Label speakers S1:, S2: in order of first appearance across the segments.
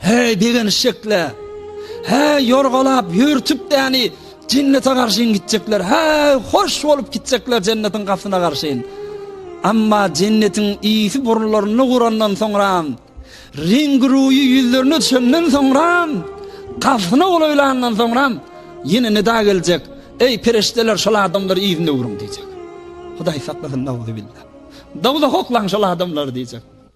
S1: Heý, begenişjekle! Heý, ýorgalap, ýörtüp däni Jennete garşyn gitjekler! Heý, hoş bolup gitjekler Jennetiň gapysyna garşyn! Emma Jennetiň ýiti burunlaryny gurandan soňram, reňgi-ruýy ýüzlerine düşenden soňram, gapysyna golaýlandan soňram, ýene nida geljek, Eý, perişdeler, şol adamlary yzyna öwrüň! diýjek. Hudaý saklasyn, nauzubilla! Dowzaha oklaň şol adamlary diýjek.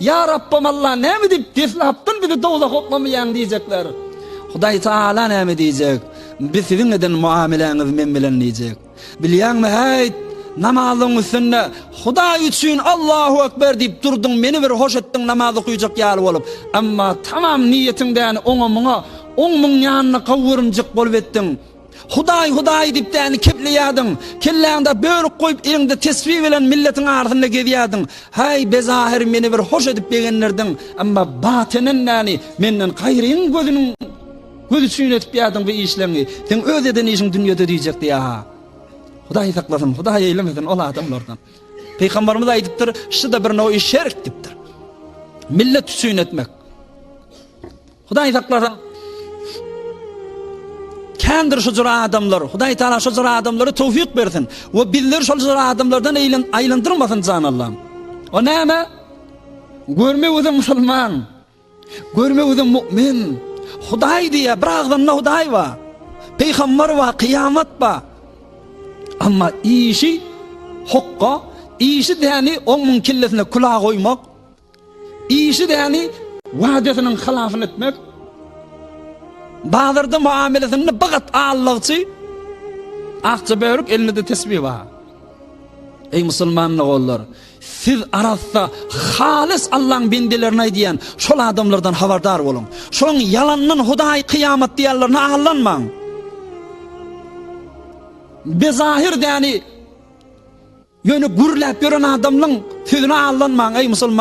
S1: Ýa Rabbym Alla, näme diýip, deslapdan bizi dowzaha oklamaýaň diýjekler. Hudaý Taala näme diýjek? Biz siziň eden muameläňiz men bilen diýjek. Bilýäňmi, häýt, namazyň üstünde Hudaý üçin Allahu ekber diýip durduň, meni bir hoş etdiň namaz okaýjak ýaly bolup, emma tamam niýetiňdäni oňa-muňa, oň-muň ýanyna gowurymjyk bolup etdiň. Hudaý Hudaý diýip däni kepleýärdiň, kelläňde bölük goýup eliňde tesbi bilen milletiň arasynda gezýärdiň. Häý bezahir meni bir hoş edip begendirdiň, emma batenen däni menden gaýryň gözüniň gözi üçin etipýärdiň bu işleňi, seň öz eden işiň dünýede diýjek diýäha. Hudaý saklasyn, Hudaý eýlemesin ol adamlardan. Pygamberimiz aýdypdyr, şu-da bir noýy şerk diýipdir. Millet üçin etmek. Hudaý saklasyn. Kändir şu jür adamlar. Hudaý Taala şu jür adamlary towfik bersin we bizleri şol jür adamlardan eýlen aýlandyrmasyn jan Allahym. O näme? Görme özüm musulman. Görme özüm mu'min. Hudaý diýe bir agzynda Hudaý wa. Peýgamber wa, kyýamat ba. Amma işi hukka, işi däni oňuň kellesine kula goýmak. Işi däli wadasynyň hylabyny etmek, bazarda muamelesinde bigat allagçy, akja börük elinde tesbi bar. Eý musulman ogullar, siz arassa, halys Allaň bendelerine diýen şol adamlardan habardar boluň. Şoň ýalandan Hudaý kyýamat diýenlerine allanmaň. Bezahir däli ýöne gürläp ýören adamlaň sözüne allanmaň eý musulman.